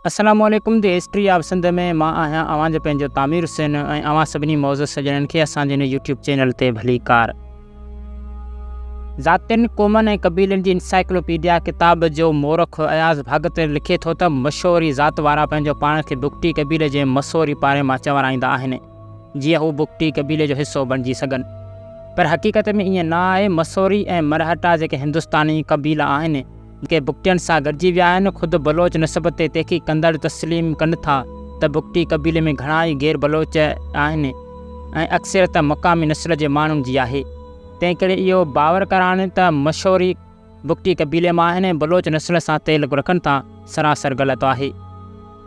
السلام عليڪم the history of Sindh ۾ مان آهيان اوهان جو پنهنجو تعمير حسين ۽ اوهان سڀني معزز سڄڻن کي اسان جي هن يوٽيوب چينل تي ڀلي ڪار. ذاتين، قومن ۽ قبيلن جي انسائيڪلوپيڊيا ڪتاب جو مورخ اياز ڀاڳتر لکي ٿو ته مشوري ذات وارا پنهنجو پاڻ کي بگٽي قبيلي جي مسوري پاري مان چورائيندا آهن جيئن هو بگٽي قبيلي جو حصو بڻجي سگهن پر حقيقت ۾ ائين نه آهي مسوري ۽ مرهٽا جيڪي هندستاني قبيلا آهن جيڪي بگٽين سان گڏجي ويا آهن، خود بلوچ نسب تي تحقيق ڪندڙ تسليم ڪن ٿا ته بگٽي قبيلي ۾ گهڻا ئي غير بلوچ آهن ۽ اڪثريت مقامي نسل جي ماڻهن جي آهي. تنهن ڪري اهو باور ڪرڻ ته مشوري بگٽي قبيلي مان آهن ۽ بلوچ نسل سان تعلق رکن ٿا، سراسر غلط آهي.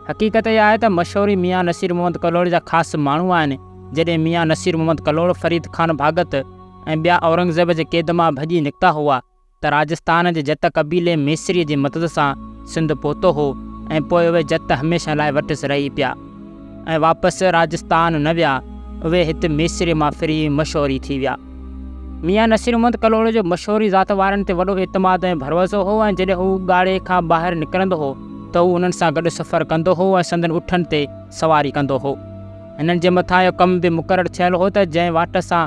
حقيقت اها آهي ته مشوري ميان نصير محمد ڪلهوڙي جا خاص ماڻهو آهن، جڏهن ميان نصير محمد ڪلهوڙو، فريد خان ڀاڳت ۽ ٻيا اورنگزيب جي قيد مان ڀڄي نڪتا هئا، ته راجستان جي جت قبيلي ميسريء جي مدد سان سنڌ پهتو هو ۽ پوء اهي جت هميشه لاء وٽس رهي پيا ۽ واپس راجستان نه ويا. اهي هت ميسريء مان ڦري مشوري ٿي ويا. ميان نصير محمد ڪلهوڙي جو مشوري ذات وارن تي وڏو اعتماد ۽ ڀروسو هو ۽ جڏهن هو ڳاڙهي کان ٻاهر نڪرندو هو ته هو انهن سان گڏ سفر ڪندو هو ۽ سندن اٺن تي سواري ڪندو هو. هنن جي مٿان اهو ڪم به مقرر ٿيل هو ته جنهن واٽ سان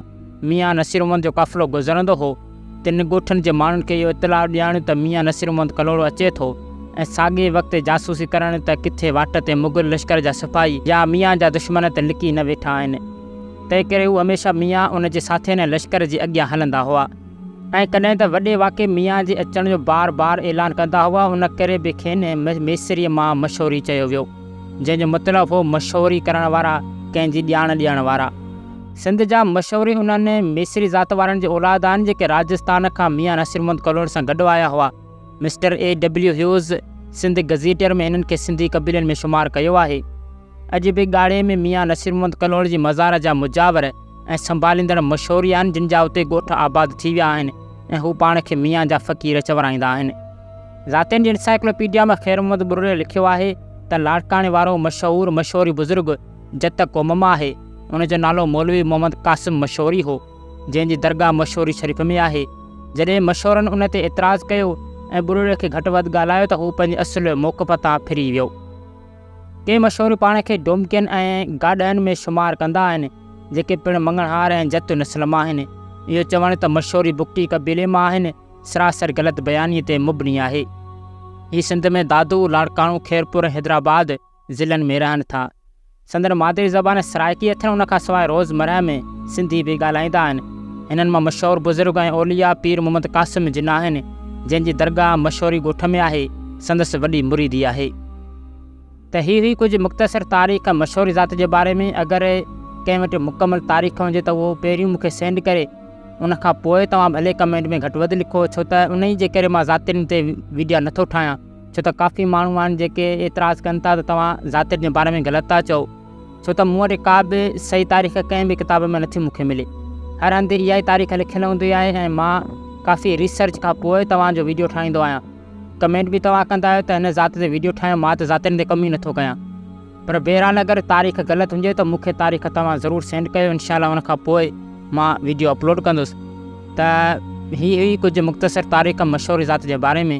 ميان نصير محمد جو قافلو گذرندو هو، تن ڳوٺن جي ماڻهن کي اهو اطلاع ڏيارڻ ته ميان نصير محمد ڪلهوڙو اچي ٿو ۽ ساڳئي وقت جاسوسي ڪرڻ ته ڪٿي واٽ تي مغل لشڪر جا سپاهي يا ميان جا دشمن ته لڪي نه ويٺا آهن. تنهن ڪري هو هميشه ميان، ان جي ساٿين ۽ لشڪر جي اڳيان هلندا هئا ۽ ڪڏهن ته وڏي واڪي ميان جي اچڻ جو بار بار اعلان ڪندا هئا. ان ڪري به کين ميسريء مان مشوري چيو ويو، جنهن جو مطلب هو مشوري ڪرڻ وارا، ڪنهن جي ڄاڻ ڏيڻ وارا. سنڌ جا مشهور انهن ميسري ذات وارن جي اولاد آهن جيڪي راجستان کان ميان نصير محمد ڪلهوڙي سان گڏ آيا هئا. Mr A W Hughes Sindh gazetteer ۾ هنن کي سنڌي قبيلن ۾ شمار ڪيو آهي. اڄ به ڳاڙهي ۾ ميان نصير محمد ڪلهوڙي جي مزار جا مجاور ۽ سنڀاليندڙ مشهور ئي آهن جن جا اتي ڳوٺ آباد ٿي ويا آهن ۽ هو پاڻ کي ميان جا فقير چورائيندا آهن. ذاتين جي انسائيڪلوپيڊيا ۾ خير محمد ٻرڙي لکيو آهي ته لاڙڪاڻي وارو مشهور مشهوري بزرگ جت قوم مان آهي. ان جو نالو مولوي محمد قاسم مشوري هو، جنهن جي درگاهه مشوري شريف ۾ آهي. جڏهن مشورن ان تي اعتراض ڪيو ۽ ٻرڙي کي گهٽ وڌ ڳالهايو ته هو پنهنجي اصل موقف تان ڦري ويو. ڪي مشوري پاڻ کي ڊومڪين ۽ گاڏهن ۾ شمار ڪندا آهن، جيڪي پڻ مڱڻهار ۽ جت نسل مان آهن. اهو چوڻ ته مشوري بگٽي قبيلي مان آهن، سراسر غلط بيانيء تي مبني آهي. هي سنڌ ۾ دادو، لاڙڪاڻو، خيرپور ۽ حيدرآباد، ضلعن ۾ رهن ٿا. سندن مادري زبان سرائڪي اٿن ان کان سواء روزمره ۾ سنڌي به ڳالهائيندا آهن. هنن مان مشهور بزرگ ۽ اولياء پير محمد قاسم جناح آهن، جنهن جي درگاهه مشهوري ڳوٺ ۾ آهي، سندس وڏي مريدي آهي. ته هي هئي ڪجهه مختصر تاريخ مشهور ذات جي باري ۾ اگر ڪنهن وٽ مڪمل تاريخ هجي ته اهو پهريون مون کي سينڊ ڪري ان کان پوء توهان ڀلي ڪمينٽ ۾ گهٽ وڌ لکو ڇو ته انهي جي ڪري مان ذاتين تي ويڊيا نٿو ٺاهيان. ڇو ته ڪافي ماڻهو آهن جيڪي اعتراض ڪن ٿا ته توهان ذاتيت جي باري ۾ غلط ٿا چئو ڇو ته مون وٽ ڪا به صحيح تاريخ ڪنهن به ڪتاب ۾ نٿي مون کي ملي هر هنڌ اها ئي تاريخ لکيل هوندي آهي ۽ مان ڪافي ريسرچ کان پوء توهان جو ويڊيو ٺاهيندو آهيان ڪمينٽ به توهان ڪندا آهيو ته هن ذات تي ويڊيو ٺاهيو مان ته ذاتين تي ڪم ئي نٿو ڪيان پر بهرحال اگر تاريخ غلط هجي ته مون کي تاريخ توهان ضرور سينڊ ڪيو انشاء الله ان کان پوء مان ويڊيو اپلوڊ ڪندس ته هي هئي ڪجهه مختصر تاريخ مشهور ذات جي باري ۾